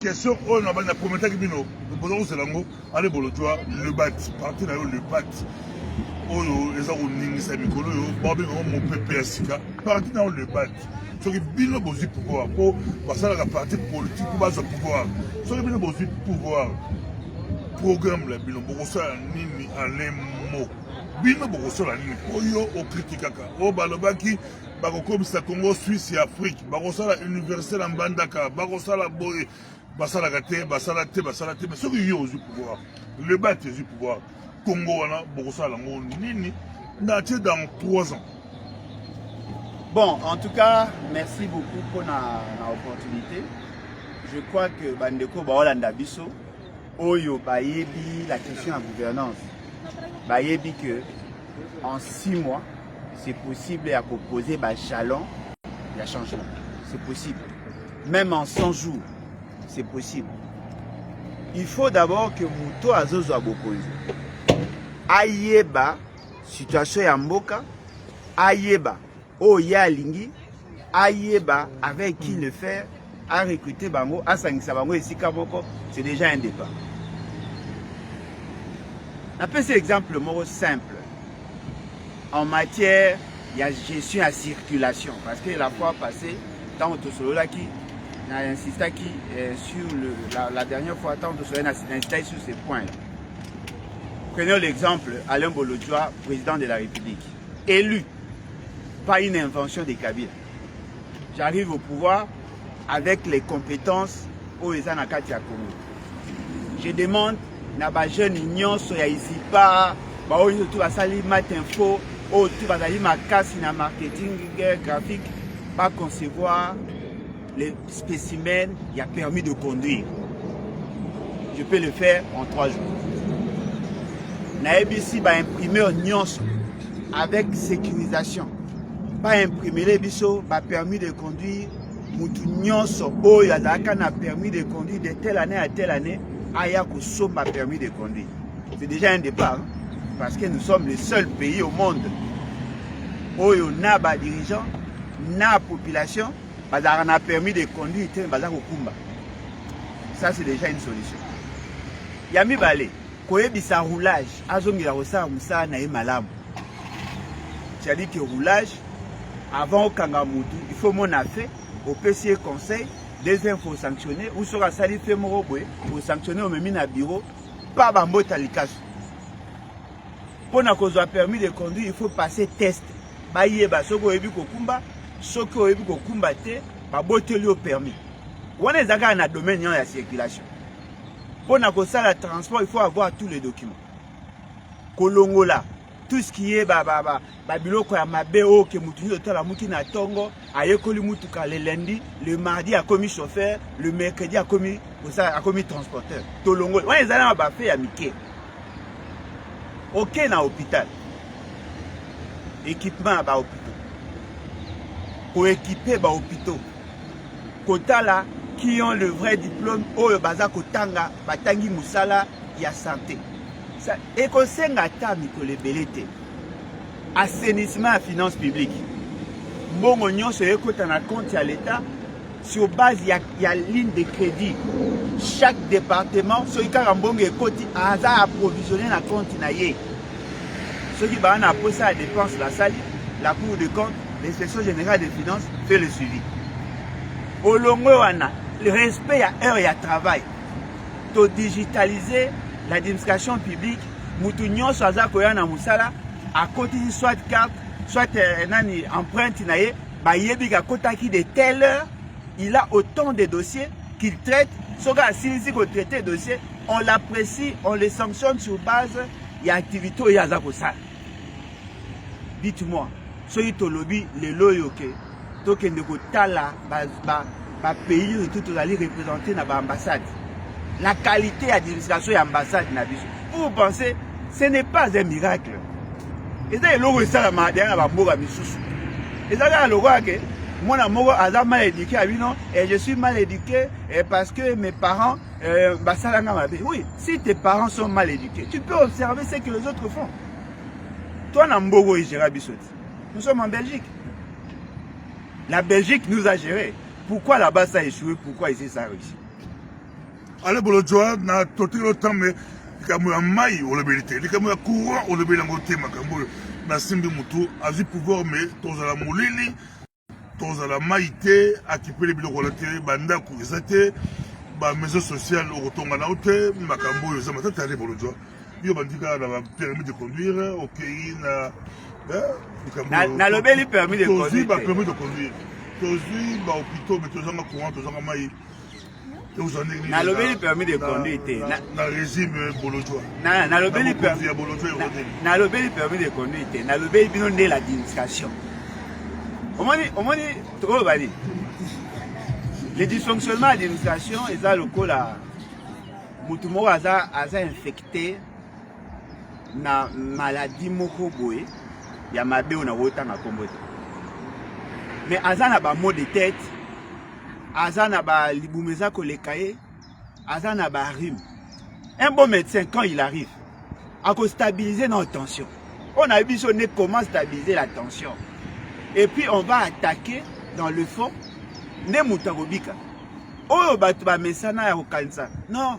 Question oyo na banda komentaki bino boza kozela yango ale bolotwa le bat parti na yo le bat oyo eza koningisa mikolo oyo babenga yango mopepe ya sika parti na yo le bat soki bino bozwi pouvoir mpo basalaka parti politique mpo bazwa pouvoir soki bino bozwi pouvoir programme na bino bokosala nini alemo bino bokosala nini mpo yo okritikaka oyo balobaki bakokomisa congo suisse ya afrique bakosala université na mbandaka bakosala boye basalaka te basala te basala te mais soki yo ozwi pouvoir leba te ezwi pouvoir congo wana bokosala yango nini na tie dans 3 ans bon en tout cas merci beaucoup mpona na opportunité je crois que bandeko baolanda biso oyo bayebi la question ya gouvernance bayebi que en 6 mois C'est possible ya ko poser ba jalons ya changement. C'est possible. Même en 100 jours, c'est possible. Il faut d'abord que moto azozwa bokonzi ayeba situation ya mboka, ayeba oyo ye alingi, ayeba avec qui le faire a recruter bango asangisa bango esika moko c'est déjà un départ napesi exemple moko simple en matière ya gestion ya circulation parce que la fois passée ntango tosololaki na insistaki eh, sur le, la, la dernière fois ntango tosololaki na insistaki sur ces points prenons l'exemple Alain Bolodjoa président de la République élu pas une invention de Kabila J'arrive au pouvoir avec les compétences oyo eza na kati ya Congo. Je demande na ba jeunes nyonso ya Isipa baoyo nyonso tu basali mat info oyo tu bazali makasi na marketing graphique ba concevoir les Specimen ya permis de conduire. Je peux le faire en trois jours. nayebisi baimprimeur nyonso avec sécurisation baimprimele biso bapermis de conduire motu nyonso oyo azalaka na permis de conduire de telle année à telle année aya kosomba permis de conduire c'est déjà un départ parce que nous sommes le seul pays au monde oyo na badirigeant na population bazalaka na permis de conduire te baza kokumba ça c'est déjà une solution ya mibale koyebisa roulage azongela kosala mosala na ye malamu cetadi ke roulage avant okanga motu il faut mona fe opesi ye conseil deuxième faut sanctionne ou soki asali fe moko boye osanctionne omemi na bureau pa bambota likasu mpo na kozwa permis de conduire il faut passer test bayeba soki oyebi kokumba soki oyebi kokumba te baboteli yo permis wana eza kaka na domaine ya circulation mpo na kosala transport il faut avoir tous les documents kolongola tout ce qui est babiloko ba, ba, ba ya mabe oyo ke motu nyonso otalamuki na ntongo ayekoli mutuka le lundi le mardi akomi chauffeur le mercredi akomi osala akomi transporteur tolongoli wana ezali na bafe ya mike oke na hôpital équipement ya bahôpitaux koekipe bahôpitaux kotala qui ont le vrai diplôme oyo baza kotanga batangi mosala ya sante ekosenga ata mikolo ebele te assainissement ya finance publique mbongo nyonso ekota na compte ya l'etat sur base ya, ya ligne de crédit chaque département soki kaka mbongo ekoti aza approvisionne na compte na ye soki baa na posa ya dépense basali la cour de compte l'inspection générale des finances fait le suivi olongwe wana respect ya heure ya travail to digitaliser l'administration publique mutu nyonso aza koya na mosala akotisi soit carte soit eh, nani empreinte na ye bayebi kakotaki de telle heure il a autant de dossiers qu'il traite soki asilisi kotraite dossier on l'apprécie on le sanctionne sur base ya activité oyo aza kosala dites-moi soki tolobi lelo oyo ke tokende kotala bapays oyo tu tozali représente na baambassade la qualité ya administration ya ambassade na biso vous pensez ce n'est pas un miracle eza eloko esalama deya na bamboka misusu eza kaka lokola ke mwana moko aza mal éduqué ya bino et je suis mal éduqué et parce que mes parents euh, basala nga mabe oui si tes parents sont mal éduqués tu peux observer ce que les autres font toi na mbogo egera biso te Nous sommes en Belgique. La Belgique nous a géré. Pourquoi la base a échoué Pourquoi ici ça a réussi Ale bolo joa na tote lo tambe likambo ya mai olobeli te likambo ya courant olobeli yango te makambo oyo nasimbi motu azwi pouvoir me tozala molili tozala mai te akipele biloko wana te bandako eza te bamaison sociale okotonga nao te makambo oyo eza matata ya bolodwa yo bandika na bapermis de conduire okei na eh, nalobeli permis de conduire tozwi bapermis de conduire tozwi bahopitaux me tozanga courant tozanga mai nalobeli permis de conduire te nalobeli permis de conduire te nalobeli bino nde la distraction omoni omoni tokoloba nini le dysfonctionnement ya distraction eza lokola motu moko aza aza infecte na maladie moko boye ya mabe oyo nakotanga nkombo te mais aza na bamo de tete aza na ba libumu eza koleka ye aza na ba rime un bon médecin quand il arrive akostabilise na tension oyo nayebi biso nde comment stabiliser la tension et puis on va attaquer dans le fond nde moto akobika oyo bato bamesana ya kokanisa non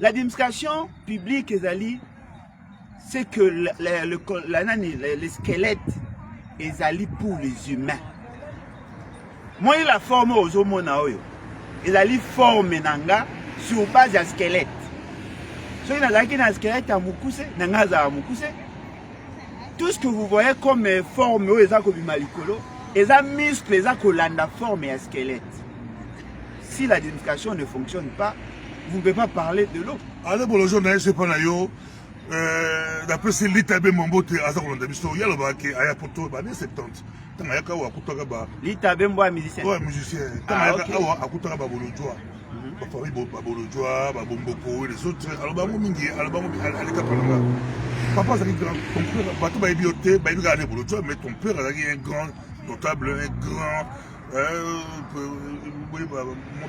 la demonstration publique ezali c'est que le, le, le, la, nani, le, le squelette ezali pour les humains moi la forme ozomona oyo ezali forme na nga sur base ya squelette soki nazalaki na squelette ya mokuse na nga azala mokuse tout ce que vous voyez comme euh, forme oyo eza kobima likolo eza muscle eza kolanda forme ya squelette Si la demonstration ne fonctionne pas, vous ne pouvez pas parler de l'eau. Ale bolozo na yesu epa na yo euh, napesi lita be mambo te aza kolanda biso ye alobaka ke aya poto bane 70 ntango ayaka awa akutaka ba Lita Bembo ya musicien. oyo ya musicien ntango Ah, ayaka ok. awa akutaka babolojwa bafamille babolojwa babomboko les autres aloba yango mingi aloba yango mingi, aleka pananga papa azalaki grand ton père bato bayebi yo te bayebi kaka ne bolojwa mais ton père azalaki un grand notable un grand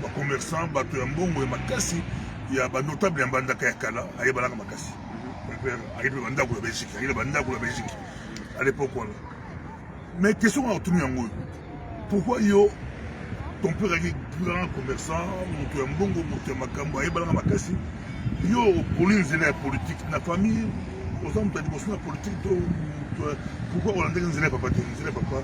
ba commerçant bato ya mbongo ya makasi ya ba notable ya mbandaka ya kala ayebanaka makasi ayebi na bandako ya belgique ayebi na bandako ya belgique à l'époque wana mais question wana otuni yango oyo pourquoi yo ton père azalaki grand commerçant moto ya mbongo moto ya makambo ayebanaka makasi yo oponi nzela ya politike na famille oza moto ya liboso na politike to pourquoi olandaki nzela ya papa te nzela ya papa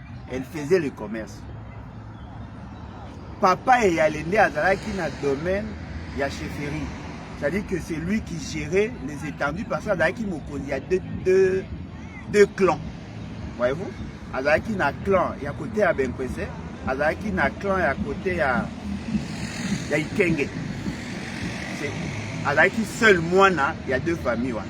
elle faisait le commerce papa ya yale nde azalaki na domaine ya chefferie c'est-à-dire que c'est lui qui gérait les étendues parce que azalaki mokonzi ya deux, deux, deux clans voyez-vous azalaki na clan ya kote ya benkwese azalaki na clan ya kote ya ya ikenge azalaki seul mwana ya deux famille wana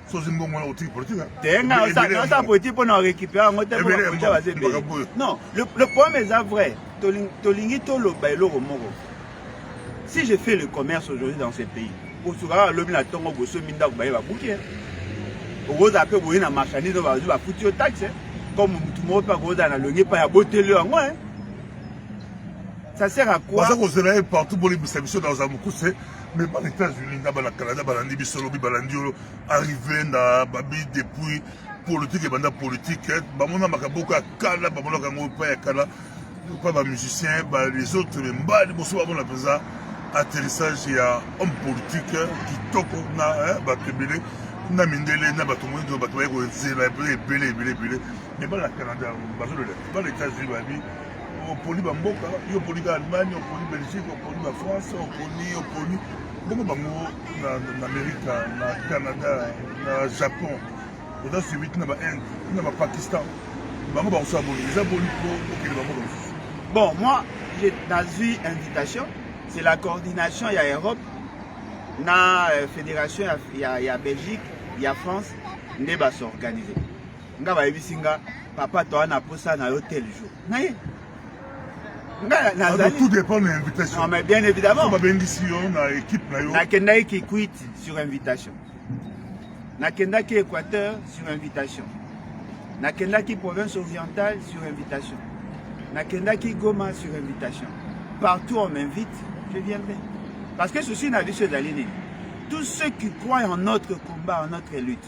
sosi mbongo wana otiki politique hein? te nga osa politique mpona orécupère yango te bapolitike baza ebele non le problème eza vrai tolingi toloba eloko moko si je fais le commerce aujourd'hui dans ce pays kosukaka alobi na ntongo bosomi ndako baye babuki hein? okozala mpe boye na marchandise oyo bazwi bafuti yo taxe hein? comme motu moko mpe akozala na longi epai ya boteli yango ça sert à quoi baza kozela ye partout bolibisa biso dans amukuse mais bana états-unis na bana canada balandi biso lobi balandi yo arrive na babi depuis politique ebanda politique eh, bamona makambo oyo kala bamonaka yango epai ya kala epai bamusicien les autres mbali mosusu bamona mpenza atterrissage ya homme politique eh, kitoko na eh, bato ebele na mindele na bato moindo bato baye kozela ebele ebele ebele ebele mais bana canada bazolela bana états-unis babi oponi bamboka yo oponi ka allemagne oponi belgique oponi ba france oponi oponi bongo bango na amerika na canada na japon oza suivi ti na ba inde ti na bapakistan bango bakosala boni eza boni po okende bamboka mosusu bon moi nazwi invitation c'est la coordination ya europe na euh, fédération ya, ya, ya belgique ya france nde basorganize nga bayebisi nga papa toa na posa na yo tel jour naye nga nazali tout dépend na invitation mais bien évidemment babengisi yo na équipe na yo nakendaki kikwiti sur invitation nakendaki équateur sur invitation nakendaki province orientale sur invitation nakendaki goma sur invitation partout on m'invite je viendrai parce que souci na biso ezali nini tous ceux qui croient en notre combat en notre lutte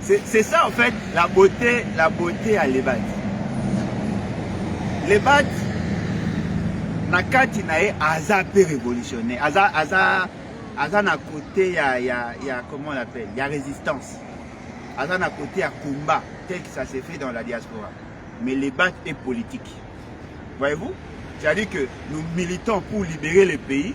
C'est ça en fait la beauté, la beauté à Lebat. Lebat, na kati na ye aza pe révolutionnaire, aza aza aza na côté ya ya ya comment on l'appelle, ya résistance. Aza na côté ya combat tel que ça s'est fait dans la diaspora. Mais Lebat est politique. Voyez-vous? C'est-à-dire que nous militons pour libérer le pays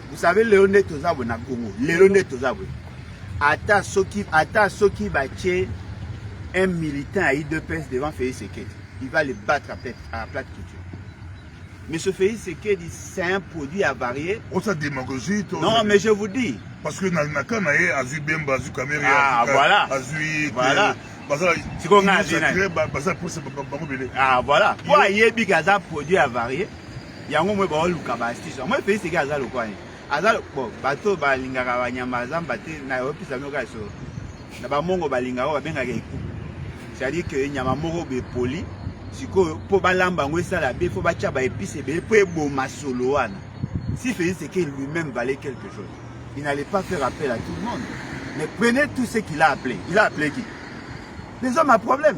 Vous savez lelo nde toza boye na Congo. Lelo nde toza boye. Ata soki ata soki batie un militant à IDPS devant Félix Sekedi, il va le battre à plate, à plate culture. Monsieur Félix Sekedi, c'est un produit avarié. On oh, sa démagogie. Non, mais je vous dis. Parce que dans le cas, Azu Bemba, Azu Kamere, ah, voilà. Azu. Voilà. sikoyo ngai azwi nani ah voilà po ayebi ke aza produit avarie yango moi baoluka ba astuce yango moi Felix eke aza lokwa ye aza bo bato balingaka banyama ya zamba te na yopesa bino kaka solo na bamongo balingaka oyo babengaka eku c'est-à-dire que nyama moko bepoli sikoyo mpo balamba yango esala be fo batya baepise ebele mpo eboma solo wana si Felix eke lui-même valait quelque chose il n'allait pas faire appel à tout le monde mais prenez tout ce qu'il a appelé il a appelé qui les hommes à problème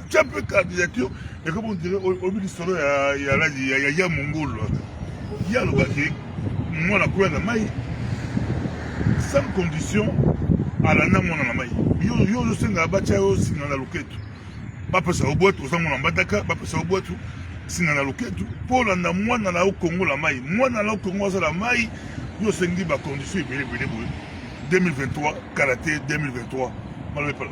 Tia mpe kadi ya kio ekomi ondire oyebi lisolo ya mongolo ye alobaki mwana koya na mai sans condition alanda mwana na mai yo ozosenga batya yo singa na loketu bapesa yo bwatu oza mwana mbataka bapesa yo bwatu singa na loketu mpo olanda mwana na yo kongo la mai mwana na yo kongo azala mai yo osengi bacondition ebele ebele boye 2023 karate 2023 malobepala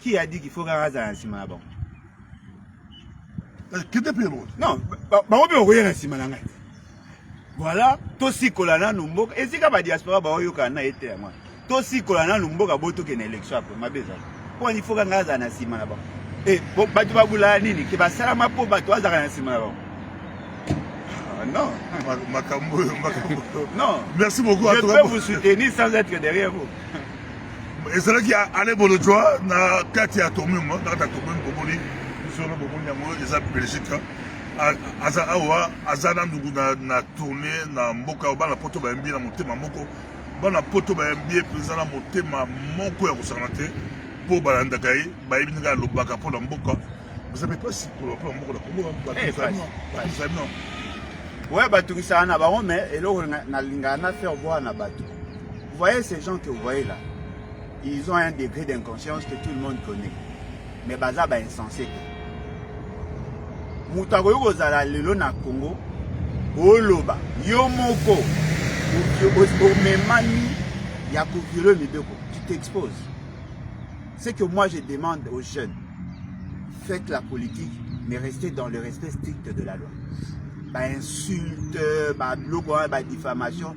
Qui a dit qu'il faut kaka azala na nsima na bango? Eh, kende mpe elongo. Non, bango mpe bakoya na nsima na ngai. Voilà, tosikola nanu mboka. Esika ba diaspora baoyokana na ye te yango wana. Tosikola nanu mboka bo tokende election apres mabe ezali. Mpo wana ifoka ngai azala na nsima na bango. E, bato babulala nini? Ke basalama mpo bato azalaka na nsima na bango. Ah, non. Makambo oyo, makambo oyo. Non. Merci beaucoup. Je peux vous soutenir sans être derrière vous. ezalaki ale bolojwa na kati ya tomum na kati ya tomum bomoni solo bomoni yango eza belgique aza awa aza na nduku na tourne na mboka bana poto bayambi na motema moko bana poto bayambi ye mpenza na motema moko ya kosangana te mpo balandaka ye bayebi ndenge alobaka mpo na mboka eza mpe mpasi koloba mpo na mboka na kongoaano oyo batungisaka na bango me eloko nalingaka na faire bwana na bato Vous voyez ces gens que vous voyez là, ils ont un degré d'inconscience que tout le monde connaît. Mais baza ba insensé te. Moto akoki kozala lelo na Congo, oloba yo moko omemani ya koviole mibeko, tu t'exposes. C'est que moi je demande aux jeunes, faites la politique, mais restez dans le respect strict de la loi. Ba insultes, ba blog, ba diffamation,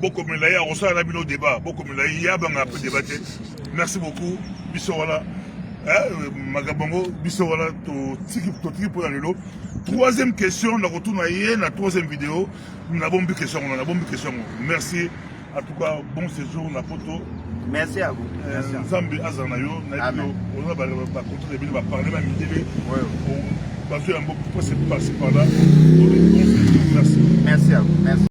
bokomela ye akosala na bino debat bokomela ye ye abanga mpe debat te merci beaucoup biso wana eh, makambo yango biso wana totiki mpo na lelo troisième question nakotuna ye na troisième video nabombi question yango nabombi question yango merci en tout cas bon séjour na poto merci à vous eh, nzambe azala na yo nayebi yo oza bakontre na bino baparle ba midele bazwi yango pasi par là merci merci à vous merci